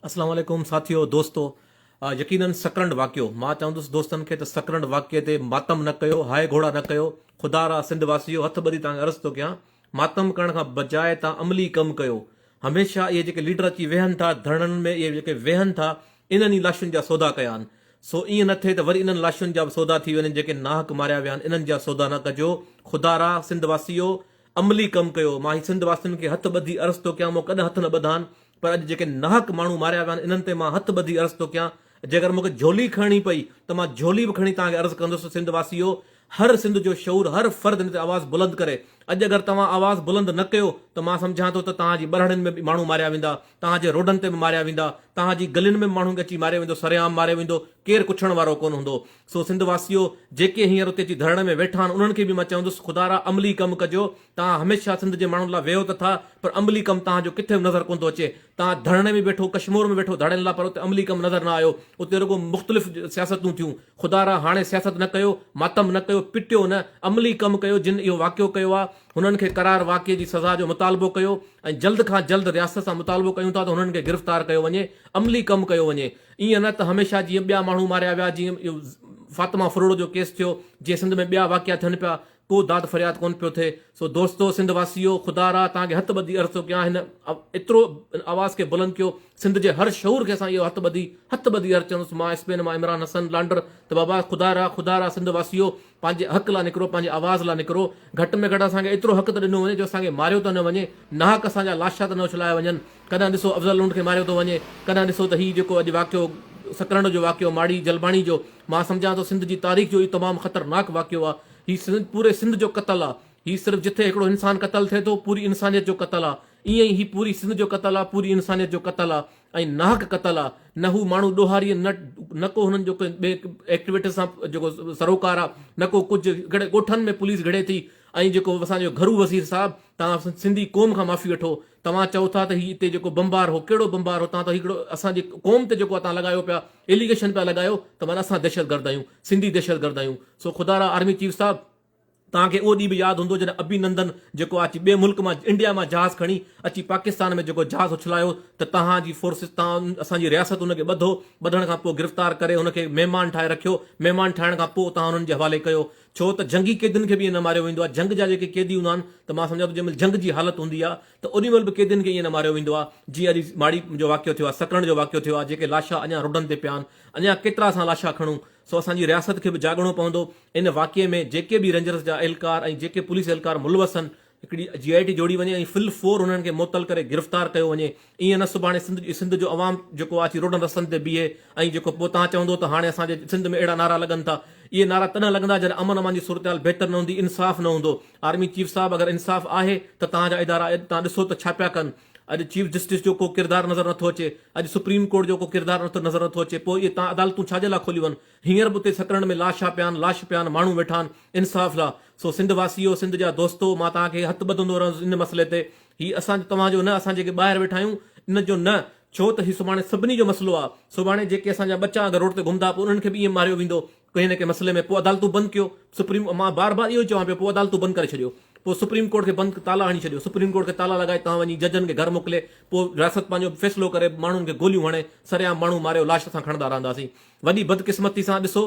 السلام عليڪم ساٿيو دوستو يقينن سڪرنڊ واقعو مان چوندس دوستن کي ته سڪرنڊ واقعي تي ماتم نه ڪيو هاء گهوڙا نه ڪيو خدا را سنڌ واسيو هٿ ٻڌي توهان کي عرض ٿو ڪيان ماتم ڪرڻ کان بجاء توهان عملي ڪم ڪيو هميشه اهي جيڪي ليڊر اچي ويهن ٿا ڌرڻن ۾ اهي جيڪي ويهن ٿا انهن ئي لاشن جا سودا ڪيا آهن سو ائين نه ٿئي ته وري انهن لاشن جا به سودا ٿي وڃن جيڪي ناحق ماريا ويا آهن انهن جا سودا نه ڪجو خدا را سنڌ واسيو عملي ڪم ڪيو مان هي سنڌ واسين کي هٿ ٻڌي عرض ٿو ڪيان مون ڪڏهن هٿ نه ٻڌان پر اڄ جيڪي ناحق ماڻهو ماريا ويا آهن انهن تي مان هٿ ٻڌي عرض ٿو ڪيان جيڪر مون کي جهولي کڻڻي پئي ته مان جهولي به کڻي توهان کي عرض ڪندس سنڌ واسيو هر سنڌ جو شعور هر فرد ان تي آواز بلند ڪري اڄ اگر توهان آواز بلند نه ڪيو ته مان سمجهان ٿو ته توهان جي ٻرهڙين ۾ به ماڻهو ماريا ويندا توهان جي روڊن تي به ماريا ويندا، توهان جي گلين ۾ به ماڻهن کي اچي ماريو ويندو، سرعام ماريو ويندو، ڪير ڪڇڻ وارو ڪونه هوندو. سو سنڌ واسيو، جيڪي هينئر اتي اچي ڌرڻي ۾ ويٺا آهن، انهن کي به مان چوندس، خدارا عملي ڪم ڪجو، توهان هميشه سنڌ جي ماڻهن لاء ويهو ته ٿا، پر عملي ڪم توهان جو ڪٿي به نظر ڪونه ٿو اچي. توهان ڌرڻي ۾ ويٺو، ڪشمور ۾ ويٺو ڌرڻين لاء، پر اتي عملي ڪم نظر نه آيو، اتي رڳو مختلف سياستون ٿيون. خدارا هاڻي سياست نه ڪيو، ماتم نه ڪيو، پٽيو نه، عملي ڪم ڪيو، جن اهو واقعو ڪيو آهي، هنن کي قرار واقعي جي سزا جو مطالبو ڪيو ۽ جلد کان جلد رياست سان مطالبو ڪيون ٿا ته هنن کي گرفتار ڪيو وڃي عملي ڪم ڪيو وڃي ايئن نه ته هميشه جيئن ٻيا ماڻهو ماريا ويا جيئن اهو فاطمه فروڙ جو ڪيس ٿيو جيئن سنڌ ۾ ٻيا واقعا ٿين پيا ڪو داد فرياد ڪون پيو ٿئي سو دوستو سنڌ واسيو خدا را توهان کي هٿ ٻڌي عرض ٿو ڪيان هن ايترو هن آواز کي بلند ڪيو سنڌ جي هر شعور کي اسان اهو هٿ ٻڌي هٿ ٻڌي عرض چوندس مان اسپين مان عمران حسن لانڊر ته بابا خدا را خدا را سنڌ واسيو پنهنجي حق لا نڪرو، پنهنجي آواز لا نڪرو، گهٽ ۾ گهٽ اسان کي ايترو حق ته ڏنو وڃي جو اسان کي ماريو ته نه وڃي، ناحق اسان جا لاشا ته نه اڇلايا وڃن، ڪڏهن ڏسو افضل لنڊ کي ماريو ٿو وڃي، ڪڏهن ڏسو ته هي جيڪو اڄ واقعو سڪرنڊ جو واقعو ماڙي جلباڻي جو، مان سمجهان ٿو سنڌ جي تاريخ جو اهو تمام خطرناڪ واقعو آ، هي پوري سنڌ جو قتل آ، هي صرف جٿي هڪڙو انسان قتل ٿئي ٿو پوري انسانيت جو قتل آ، ايئن ئي هي پوري سنڌ جو قتل آ، پوري انسانيت جو قتل آ، ۽ ناحق قتل آ نه هو ماڻهو ڏوهاري نه نه ڪو هنن جو ڪنهن ٻئي ايڪٽيوٽس سان جيڪو سروڪار آ نه ڪو ڪجهه ڪهڙي ڳوٺن ۾ پوليس گهڙي ٿي ۽ جيڪو اسان جو گهرو وزير صاحب توهان سنڌي قوم کان معافي وٺو توهان چئو ٿا ته هي اتي جيڪو بمبار هو ڪهڙو بمبار هو توهان ته هڪڙو اسان جي قوم تي جيڪو توهان لڳايو پيا اليگيشن پيا لڳايو ته معنيٰ اسان دهشتگرد آهيون سنڌي دهشتگرد آهيون سو خدارا آرمي چيف صاحب توهان کي اهو ڏينهن به ياد هوندو جڏهن ابي نندن جيڪو آ اچي ٻئي ملڪ مان انڊيا مان جهاز کڻي اچي پاڪستان ۾ جيڪو جهاز اڇلايو ته توهان جي فورسز توهان اسان جي رياست ان کي ٻڌو ٻڌڻ کان پوء گرفتار ڪري ان کي مهمان ٺاهي رکيو مهمان ٺاهڻ کان پوء توهان انهن جي حوالي ڪيو ڇو ته جنگي قيدين کي به ائين نه ماريو ويندو آ جنگ جا جيڪي قيدي هوندا آهن ته مان سمجهان ٿو جنهن مهل جنگ جي حالت هوندي آ ته اڏي مهل به قيدين کي ائين نه ماريو ويندو آ جيئن اڄ ماڙي جو واقعو ٿيو آ سڪرنڊ جو واقعو ٿيو آ جيڪي لاشا اڃان روڊن تي پيا آهن اڃان ڪيترا اسان لاشا کڻون سو اسان جي رياست کي به جاڳڻو پوندو، ان واقعي ۾ جيڪي به رينجرز جا اهلڪار ۽ جيڪي پوليس اهلڪار ملوث هن هڪڙي جي آء ٽي جوڙي وڃي ۽ فل فور انهن کي معطل ڪري گرفتار ڪيو وڃي ايئن نه سڀاڻي سنڌ سنڌ جو عوام جيڪو آ اچي روڊن رستن تي بيهي ۽ جيڪو پوء تان چوندو ته هاڻي اسان جي سنڌ ۾ اهڙا نعرا لڳن ٿا اهي نعرا تڏهن لڳندا جڏهن امن امان جي صورتحال بهتر نه هوندي انصاف نه هوندو آرمي چيف صاحب اگر انصاف آهي ته تان جا ادارا تان ڏسو ته ڇا پيا ڪن اڄ چيف جسٽس جو ڪو ڪردار نظر نٿو اچي، اڄ سپريم ڪورٽ جو ڪو ڪردار نظر نٿو اچي، پوء اهي تان عدالتون ڇا جي لاء کوليون ويون؟ هينئر به اتي سڪرنڊ ۾ لاشا پيا آهن، لاش پيا آهن، ماڻهو ويٺا آهن انصاف لاء. سو سنڌ واسيو، سنڌ جا دوستو، مان توهان کي هٿ ٻڌندو رهندس ان مسئلي تي. هي اسان جو توهان جو نه، اسان جيڪي ٻاهر ويٺا آهيون ان جو نه، ڇو ته هي سڀاڻي سڀني جو مسئلو آهي. سڀاڻي جيڪي اسان جا ٻچا اگر روڊ تي گهمندا پوء انهن کي به ائين ماريو ويندو. ڪنهن نه ڪنهن مسئلي ۾ پوء عدالتون بند ڪيو سپريم مان بار بار اهو ئي چوان پيو پوء عدالتون بند ڪري ڇڏيو پوء سپريم ڪورٽ کي بند تالا هڻي ڇڏيو سپريم ڪورٽ کي تالا لڳائي توهان وڃي ججن کي گهر موڪلي پوء رياست پنهنجو فيصلو ڪري ماڻهن کي گوليون هڻي سرعام ماڻهو ماريو لاش اسان کڻندا رهنداسين وڏي بدقسمتي سان ڏسو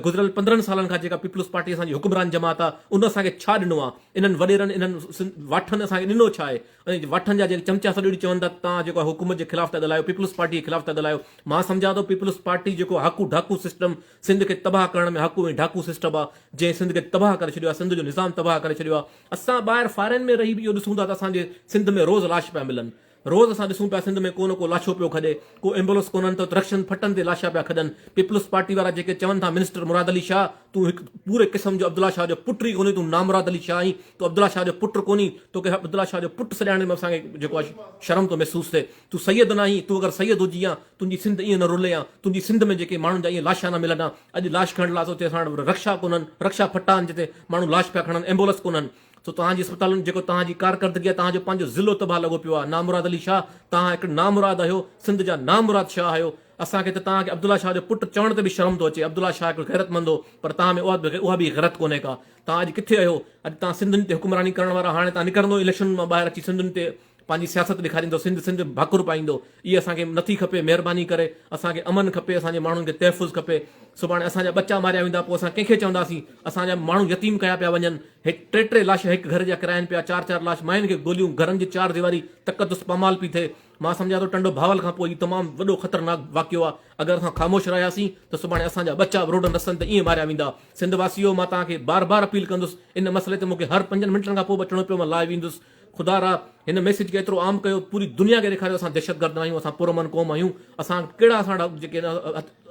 گذريل پندرهن سالن کان جيڪا پيپلز پارٽي اسان جي حڪمران جماعت آ ان اسان کي ڇا ڏنو آ انهن وڏيرن انهن واٺن اسان کي ڏنو ڇا آهي ۽ وٺن جا جيڪي چمچا سڏڙي چون ٿا ته توهان جيڪو آهي حڪومت جي خلاف ٿا ڳالهايو پيپلز پارٽي جي خلاف ٿا ڳالهايو مان سمجهان ٿو پيپلز پارٽي جيڪو هاڪو ڍاڪو سسٽم سنڌ کي تباهه ڪرڻ ۾ هاڪو ۽ ڍاڪو سسٽم آ جنهن سنڌ کي تباهه ڪري ڇڏيو آهي سنڌ جو نظام تباهه ڪري ڇڏيو آهي اسان ٻاهر فارين ۾ رهي به اهو ڏسون ٿا ته اسان جي سنڌ ۾ روز لاش پيا ملن روز اسان ڏسون پيا سنڌ ۾ ڪو نه ڪو لاشو پيو کڄي ڪو ايمبولنس ڪونهن ته رڪشن ڦٽن تي لاشا پيا کڄن پيپلز پارٽي وارا جيڪي چون ٿا منسٽر مراد علي شاهه تون هڪ پوري قسم جو عبدالله شاهه جو پٽ ئي ڪونهين تون نامراد علي شاهه آهين تون عبدالله شاهه جو پٽ ڪونهين توکي عبدالله شاهه جو پٽ سڏائڻ ۾ اسان کي جيڪو آهي شرم ٿو محسوس ٿئي تون سيد ناهين تون اگر سيد هجي ها تنهنجي سنڌ ائين نه رلي ها تنهنجي سنڌ ۾ جيڪي ماڻهن جا ائين لاشا نه ملن ها اڄ لاش کڻڻ لاء تو چئي اسان وٽ رڪشا ڪونهن رڪشا ڦٽا آهن جتي ماڻهو لاش پيا کڻن ايمبولنس ڪونهن سو توهان جي اسپتالن جيڪو توهان جي ڪارڪردگي آ توهان جو پنهنجو ضلعو تباهه لڳو پيو آ نامراد علي شاهه توهان هڪڙي نامراد آهيو سنڌ جا نامراد شاهه آهيو اسان کي ته توهان کي عبدالله شاهه جو پٽ چوڻ تي به شرم ٿو اچي عبدالله شاهه هڪڙو غيرت مند هو پر توهان ۾ اها به غرت ڪونهي ڪا توهان اڄ ڪٿي اهيو اڄ توهان سنڌين تي حڪمراني ڪرڻ وارا هاڻي توهان نڪرندو اليڪشنن مان ٻاهر اچي سنڌين تي پنهنجي سياست ڏيکاريندو سنڌ سنڌ ڀاڪر پائيندو اهي اسان کي نه ٿي کپي مهرباني ڪري اسان کي امن کپي اسان جي ماڻهن کي تحفظ کپي سڀاڻي اسان جا ٻچا ماريا ويندا پوء اسان ڪنهن کي چونداسين اسان جا ماڻهو يتيم ڪيا پيا وڃن هڪ ٽي ٽي لاشا هڪ گهر جا ڪراين پيا چار چار لاش ماين کي گوليون گهرن جي چار ديواري تقدس پامال پي ٿئي مان سمجهان ٿو ٽنڊو ڀاول کان پوء هي تمام وڏو خطرناڪ واقعو آهي اگر اسان خاموش رهياسين ته سڀاڻي اسان جا ٻچا به روڊن رستن تي ائين ماريا ويندا سنڌ واسيو مان توهان کي بار بار اپيل ڪندس ان مسئلي تي مون کي هر پنجن منٽن کان پوء به اچڻو پيو مان لائيو ايندس خدا را هن ميسيج کي ايترو عام ڪيو پوري دنيا کي ڏيکاريو اسان دهشتگرد ناهيون اسان پرامن قوم آهيون اسان ڪهڙا اسان ڏا جيڪي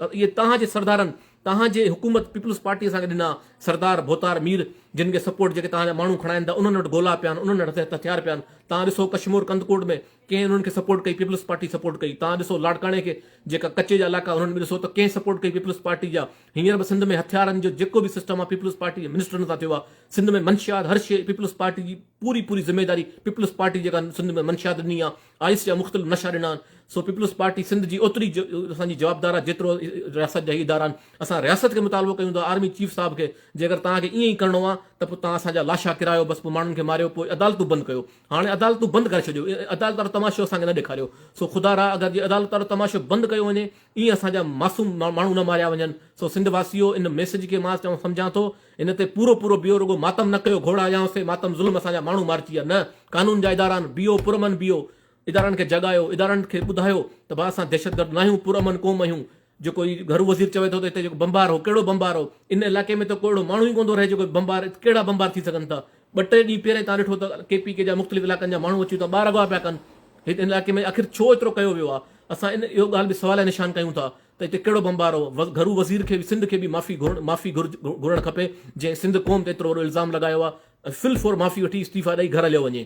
اهي توهان جي سردارن توهان جي حڪومت پيپلز پارٽي اسان کي ڏنا سردار ڀوتار مير جن کي سپورٽ جيڪي توهان جا ماڻهو کڻائن ٿا انهن وٽ گولا پيا آهن انهن وٽ هٿيار پيا آهن توهان ڏسو ڪشمور ڪنڌڪوٽ ۾ ڪنهن انهن کي سپورٽ ڪئي پيپلز پارٽي سپورٽ ڪئي توهان ڏسو لاڙڪاڻي کي جيڪا ڪچي جا علائقا انهن ۾ ڏسو ته ڪنهن سپورٽ ڪئي پيپلز پارٽي جا هينئر به سنڌ ۾ هٿيارن جو جيڪو به سسٽم آهي پيپلز پارٽي جي منسٽرن سان ٿيو آهي سنڌ ۾ منشيات هر شيء پيپلز پارٽي جي پوري پوري ذميداري پيپلز پارٽي جيڪا سنڌ ۾ منشيات ڏني آهي آئس جا مختلف نشا ڏنا آهن سو پيپلز پارٽي سنڌ جي اوتري اسان جي جوابدار آهي جيترو رياست جا هي ادارا آهن اسان رياست کي مطالبو ڪيون ٿا آرمي چيف صاحب کي جيڪر توهان کي ائين ئي ڪرڻو آهي ته پوء توهان اسان جا لاشا ڪرايو بس پوء ماڻهن کي ماريو پوء عدالتون بند ڪيو هاڻي عدالتون بند ڪري ڇڏيو. عدالت وارو تماشو اسان کي نه ڏيکاريو. سو خدا را اگر جي عدالت وارو تماشو بند ڪيو وڃي ۽ اسان جا معصوم ماڻهو نه ماريا وڃن. سو سنڌ واسيو ان ميسج کي مان چون سمجهان ٿو ان تي پورو پورو بيهو رڳو ماتم نه ڪيو گهوڙا يا سي ماتم ظلم اسان جا ماڻهو مارجي ويا نه قانون جا اداران بيهو پرامن بيهو ادارن کي جڳايو ادارن کي ٻڌايو ته ڀا اسان دهشتگرد ناهيون پرامن قوم اهيون جيڪو هي گهرو وزير چوي ٿو ته هتي جيڪو بمبار هو ڪهڙو بمبار هو؟ ان علائقي ۾ ته ڪو اهڙو ماڻهو ئي ڪونه ٿو رهي جيڪو بمبار ڪهڙا بمبار ٿي سگهن ٿا؟ ٻه ٽي ڏينهن پهرئين توهان ڏٺو ته ڪي پي ڪي جا مختلف علائقن جا ماڻهو اچي اتان ٻار اغوا پيا ڪن هت ان علائقي ۾ آخر ڇو ايترو ڪيو ويو آهي؟ اسان ان اهو ڳالهه به سواليه نشان ڪيون ٿا ته هتي ڪهڙو بمبار هو؟ گهرو وزير کي به سنڌ کي به معافي گهرڻ معافي گهرڻ کپي جنهن سنڌ قوم تي ايترو وڏو الزام لڳايو آهي ۽ فل فور معافي وٺي استعيفا ڏئي گهر هليو وڃي.